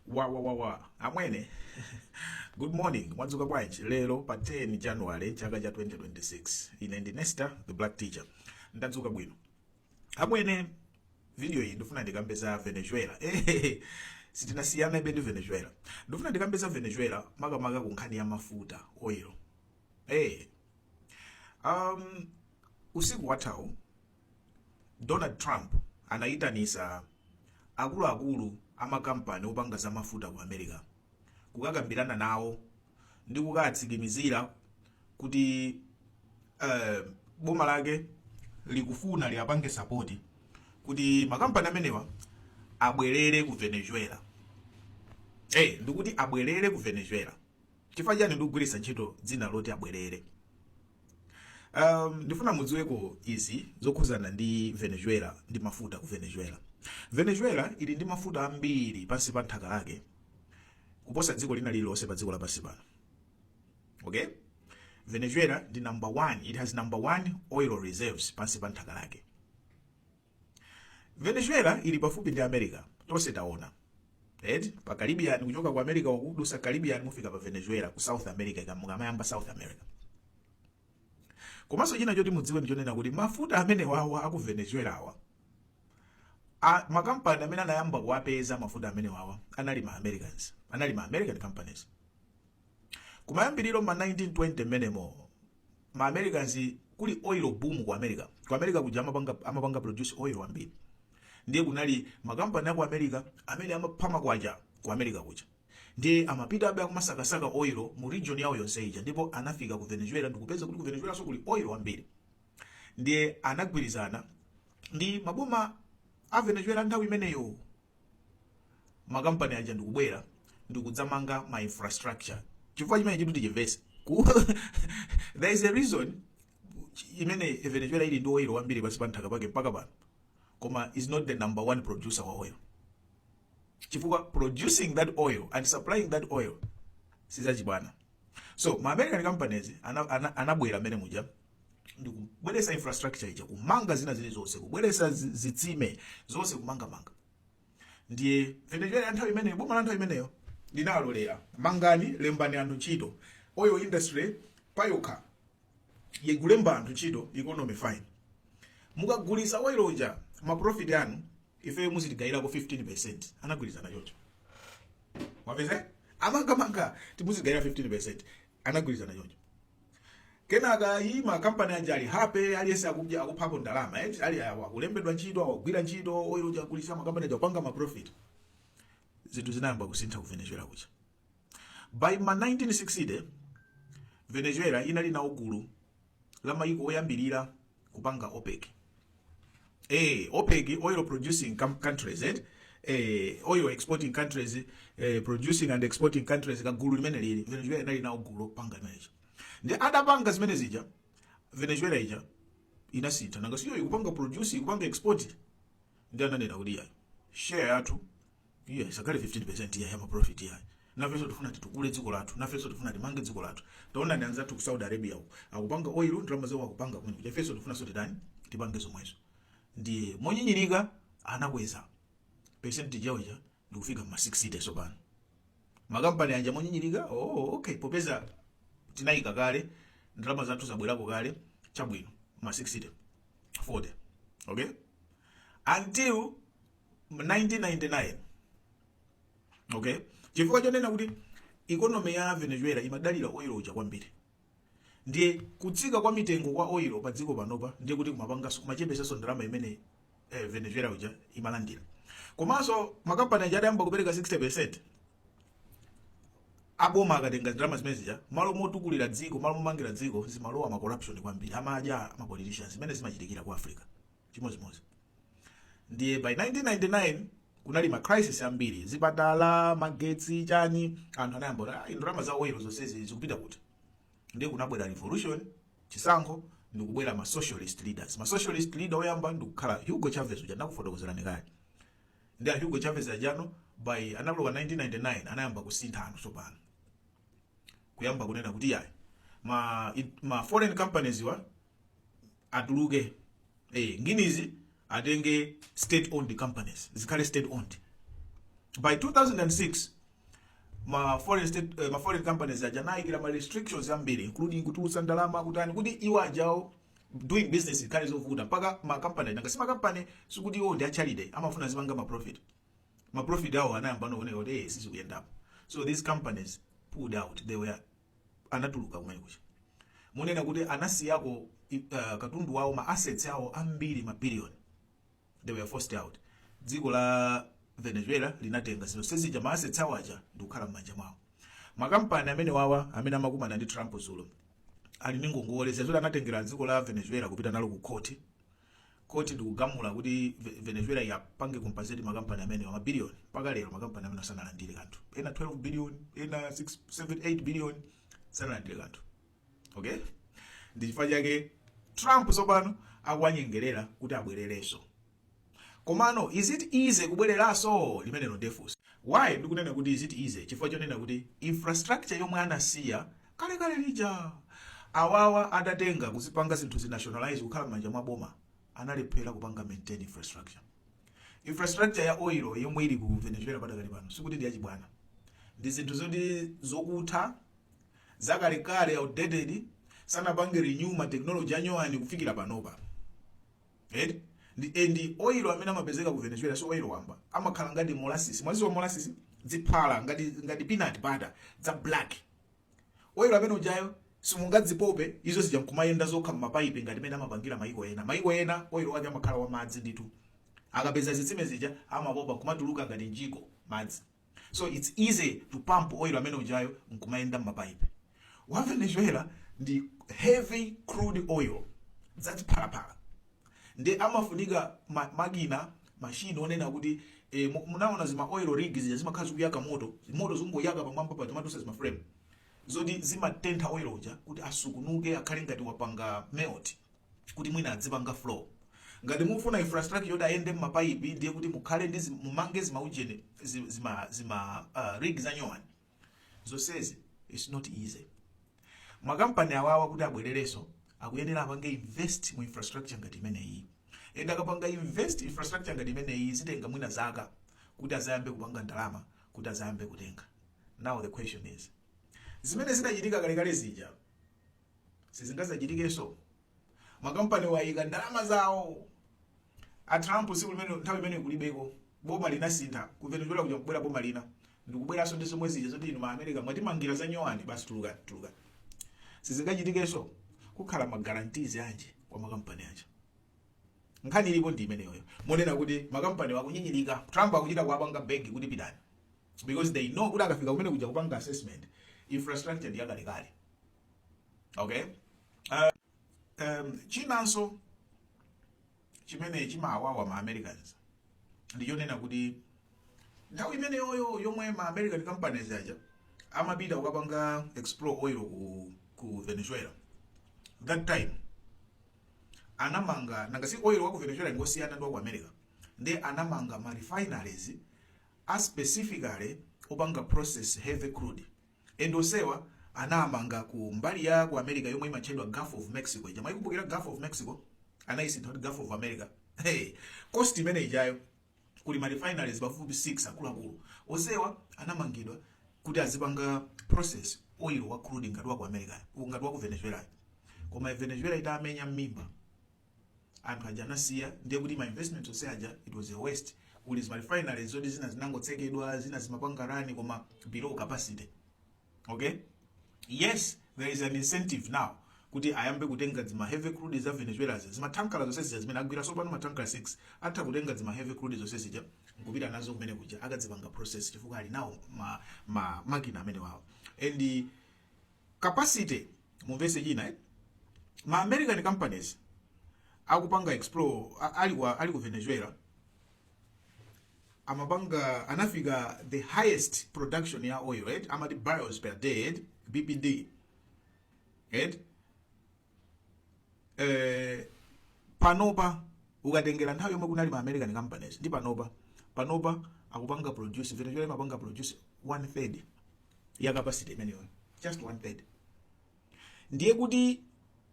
wa wa wa wa amwene good morning mwadzuka bwanji lero pa 10 january chaka cha 2026 ine ndi nesta the black teacher ndadzuka bwino amwene video iyi ndifuna ndikambe za venezuela Eh, sitinasiyanebe ndi venezuela ndifuna ndikambe za venezuela makamaka ku nkhani ya mafuta oil Eh, um, usiku wathawu Donald Trump anaitanitsa akuluakulu a makampani opanga za mafuta ku America kukakambirana nawo ndi kukawatsimikizira kuti eh, boma lake likufuna liapange sapoti kuti makampani amenewa abwerere ku Venezuela. Hey, ndikuti abwerere ku Venezuela. Chifukwa chani ndikugwiritsa ntchito dzina loti abwerere? um, ndifuna mudziweko izi zokhuzana ndi venezuela ndi mafuta ku venezuela venezuela ili ndi mafuta ambiri pansi pa nthaka lake kuposa dziko lina lililonse pa dziko lapansi pano okay venezuela ndi number one it has number one oil reserves pansi pa nthaka lake Venezuela ili pafupi ndi America. Tonse taona. Eti pa Caribbean kuchoka ku America uku kudutsa Caribbean mufika pa Venezuela ku South America mukamayamba South America. Komanso china choti mudziwe ndi chonena kuti mafuta amene wa aku Venezuela wa makampani amene anayamba kuwapeza mafuta amene wa anali ma Americans, anali ma American companies. Kumayambiriro ma 1920 mmenemo ma americans kuli oil boom ku america ku america kuja amapanga, amapanga produce oil wambiri ndiye kunali makampani aku america amene amapha makwacha ku america kuja ndiye amapita abe akumasakasaka oil mu region yawo yonse ija ndipo anafika ku venezuela ndikupeza kuti ku venezuelanso kuli oil wambiri ndiye anagwirizana ndi maboma a venezuela a nthawi imeneyo makampani aja ndikubwera ndikudzamanga ma infrastructure chifukwa chimenechitu tichimvese Ku- there is a reason imene venezuela ili ndi oil wambiri pansi pa nthaka pake mpaka pano koma is not the number one producer wa oil chifukwa producing that oil and supplying that oil sizachibwana so ma american companies ana- ana- anabwera mmene muja ndi kubweretsa infrastructure ija kumanga zina zilizonse kubweretsa zi- zitsime zonse kumangamanga ndiye venezuela ya nthawi imeneyo boma la nthawi imeneyo linalolera mangani lembani anthu ntchito oil industry payokha yikulemba anthu ntchito economy fine mukagulitsa oil uja maprofit anu ifeyo muzitigawirako 15 anagwirizana chocho wapeze amangamanga muzitigawira 15 anagwirizana chocho Kenaka ayi ma company aja ali happy aliyense akudya akuphako ndalama eti ali kulembedwa ntchito akugwira ntchito oil uja akugulitsa ma company aja kupanga ma profit. Zinthu zinayamba kusintha ku Venezuela kuja. By ma 1960 Venezuela inali nawo gulu la mayiko oyambirira kupanga opec eh opec oil producing com- countries eh eh oil exporting countries eh producing and exporting countries kagulu kamene kali venezuela inali nawo gulu opanga imenezo ndi adapanga zimene zija venezuela ija inasintha nanga si iyo ikupanga produce ikupanga export ndiye ananena kuti yayi share yathu isakhale 15% ya yama profit yayi nafenso tifuna titukule dziko lathu nafenso tifuna timange dziko lathu taonani anzathu ku saudi arabia uko akupanga oil ndalama zawo akupanga kumene kuja ifenso tifunanso titani tipange zomwezo ndiye monyinyirika anakweza percentage yawo ija ndikufika ma 60 tsopano makampani aja monyinyirika oh, okay popeza tinayika kale ndalama zathu zabwerako kale chabwino ma 60 40 okay until 1999 okay chifukwa chonena kuti ikonomi ya venezuela imadalira oil uja kwambiri ndiye kutsika kwa mitengo kwa oil pa dziko pano ndiye kuti kumapanganso kumachepesanso ndalama imene eh, venezuela uja imalandira komanso makampani aja adayamba kupereka 60 aboma akatenga ndalama zimene zija malo motukulira dziko malo momangira dziko zimalowa ma corruption kwambiri amadya ma politicians zimene zimachitikira ku africa chimodzimodzi ndiye by 1999 kunali ma crisis ambiri zipatala magetsi chani anthu anayamba kuti "Ah, ndalama za oil zonsezi zikupita kuti ndiye kunabwera revolution chisankho ndikubwera ma socialist leaders socialist leader oyamba ndikukhala hugo chavez uja ndakufotokozerani kale ndiye hugo chavez uja by analowa 1999 anayamba kusintha anthu tsopano kuyamba kunena kuti yayi ma, it, ma foreign companies awa atuluke eh, nginizi atenge state owned companies zikhale state owned by 2006 ma foreign state eh, ma foreign companies aja anayikira ma restrictions ambiri including kutulutsa ndalama kutani kuti iwo aja doing business ikhale zovuta mpaka ma company nanga si ma company sikuti iwo ndi a charity amafuna azipanga ma profit ma profit ndiye anayamba nooneka kuti eh sizikuyendapo so these companies pulled out they were anatuluka kumene kuja monena kuti anasiyako uh, katundu wawo ma assets awo ambiri ma billion they were forced out dziko la venezuela linatenga zinthu zonse zija ma assets awo aja ndikukhala m'manja mwawo makampani amenewa awa amene amakumana ndi trump dzulo ali ndi ngongole zazoti anatengera dziko la venezuela kupita nalo ku khoti koti ndikugamula kuti Ve- venezuela yapange compensate makampani amenewa mabiliyoni mpaka lero makampani amenewa sanalandire kanthu ena 12 billion ena 6 7 8 billion sanalandire kanthu okay ndi chifukwa chake trump tsopano akuwanyengerera kuti abwererenso komano is it easy kubwereranso limenelo nde funso why ndikunena kuti is it easy chifukwa chonena kuti infrastructure yomwe anasiya kale kale lija awawa adatenga kuzipanga zinthu zinationalize kukhala m'manja mwa boma analephera kupanga maintain infrastructure infrastructure ya oil yomwe ili ku venezuela padakali pano sikuti ndi yachibwana ndi zinthu zoti zokutha zakalekale outdated sanapange renew ma technology anyuwani kufikira panopa eti ndi eh, ndi oil amene amapezeka ku venezuela si oil wamba amakhala ngati molasisi mwadziwa molasisi ziphala ngati ngati peanut butter za black Oil amene ujayo simungadzipope izo zija nkumayenda zokha m'mapaipi ngati mene amapangira maiko ena. Maiko ena oil wake amakhala wa madzi ndithu. Akapeza zitsime zija amapopa nkumatuluka ngati mjigo madzi. So it's easy to pump oil amene ujayo nkumayenda m'mapaipi. Wa Venezuela ndi heavy crude oil zachiphalaphala nde amafunika ma, makina machine onena kuti eh, mu- munaona zima oil rig zija zimakhala zikuyaka moto moto zikungoyaka pamwamba paja ma torch zima frame zoti zimatentha oil uja kuti asungunuke akhale ngati wapanga melt kuti mwina adzipanga flow ngati mufuna infrastructure yoti ayende mmapayipi ndiye kuti mukhale ndi zi- mumange zimaujeni zi- zima, zima uh, rig zanyuwani zonsezi its not easy makampani awawa kuti abwererenso akuyenera apange invest mu infrastructure ngati imeneyi and akapanga invest infrastructure ngati imeneyi zitenga mwina zaka kuti azayambe kupanga ndalama kuti azayambe kutenga now the question is zimene zidachitika kalekale zija sizingazachitikenso makampani wayika ndalama zawo a Trump tsiku limene nthawi imene kulibeko boma linasintha ku Venezuela kuja kubwera boma lina ndikubweranso ndi zomwe zija zoti inu ma America mwatimangira za nyuwani basi tulukani tulukani sizingachitikenso kukhala ma guarantees anji kwa makampani aja nkhani ilipo ndi imeneyoyo yonena kuti makampani wakunyinyirika Trump akuchita kuwapanga beg kuti pitani because they know kuti akafika kumene kuja kupanga assessment infrastructure ndi yakalekale okay uh, um, chinanso chimene chimawawa ma americans ndichonena kuti nthawi imeneyoyo yomwe ma american companies aja amapita kukapanga explore oil ku, ku venezuela that time anamanga nanga si oil wa ku venezuela ngosiyana ndi wa ku america nde anamanga ma refineries a specifically opanga process heavy crude And onsewa anamanga ku mbali ya ku America yomwe imatchedwa Gulf of Mexico ija. Mwayikumbukira Gulf of Mexico? Anaisintha kuti Gulf of America. Hey, coast imene ijayo kuli ma refineries pafupi 6 akuluakulu. Onsewa anamangidwa kuti azipanga process oilo wa crude ngati wa ku America, ngati wa ku Venezuelayo. Koma Venezuela itamenya mmimba anthu aja anasiya ndiye kuti ma investment onse aja it was a waste kuli zima refineries zoti zina zinangotsekedwa zina zimapanga rani koma below capacity okay yes there is an incentive now kuti ayambe kutenga zima heavy crude za venezuelazi zimathanka zonse zija zimene agwira sopano mathanka 6 atha kutenga zima heavy crude zonse zija nkupita nazo kumene kuja akazipanga process chifukwa ali nawo ma, ma makina amenewawo and capacity mumvese china eh? ma american companies akupanga explore a- ali kwa ali ku venezuela amapanga anafika the highest production ya oil right amati barrels per day right? bpd right eh panopa ukatengera nthawi yomwe kunali ma american companies ndi panopa panopa akupanga produce venezuela imapanga produce one third ya capacity imeneyo just one third ndiye kuti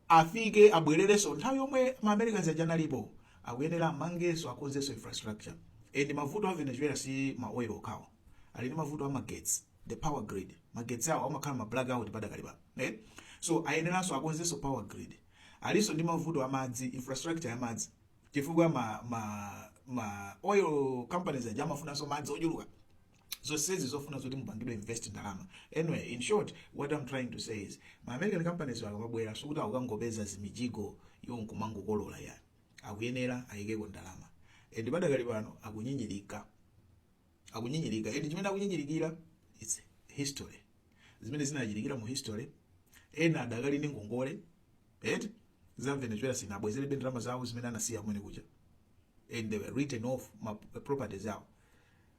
afike abwererenso nthawi yomwe ma americans aja analipo akuyenera amangenso akonzenso infrastructure and mavuto a venezuela si ma oil okhawo ali ndi mavuto a magetsi the power grid magetsi awo amakhala ma blackout padakali pano eh? so ayeneranso akonzenso power grid alinso ndi mavuto a madzi infrastructure ya madzi chifukwa ma, ma, ma oil companies aja amafunanso madzi ochuluka zonsezi zofuna zoti zipangidwe invest ndalama anyway in short what i'm trying to say is ma american companies akabwera sikuti akukangopeza zimijigo iwo nkumangokolola ya akuyenera ayikeko ndalama and padakali pano akunyinyirika akunyinyirika and chimene akunyinyirikira its history zimene zinachitikira mu history ena adakali ndi ngongole eti za venezuela sinabwezerebe ndalama zawo zimene anasiya kumene kuja and they were written off ma properties awo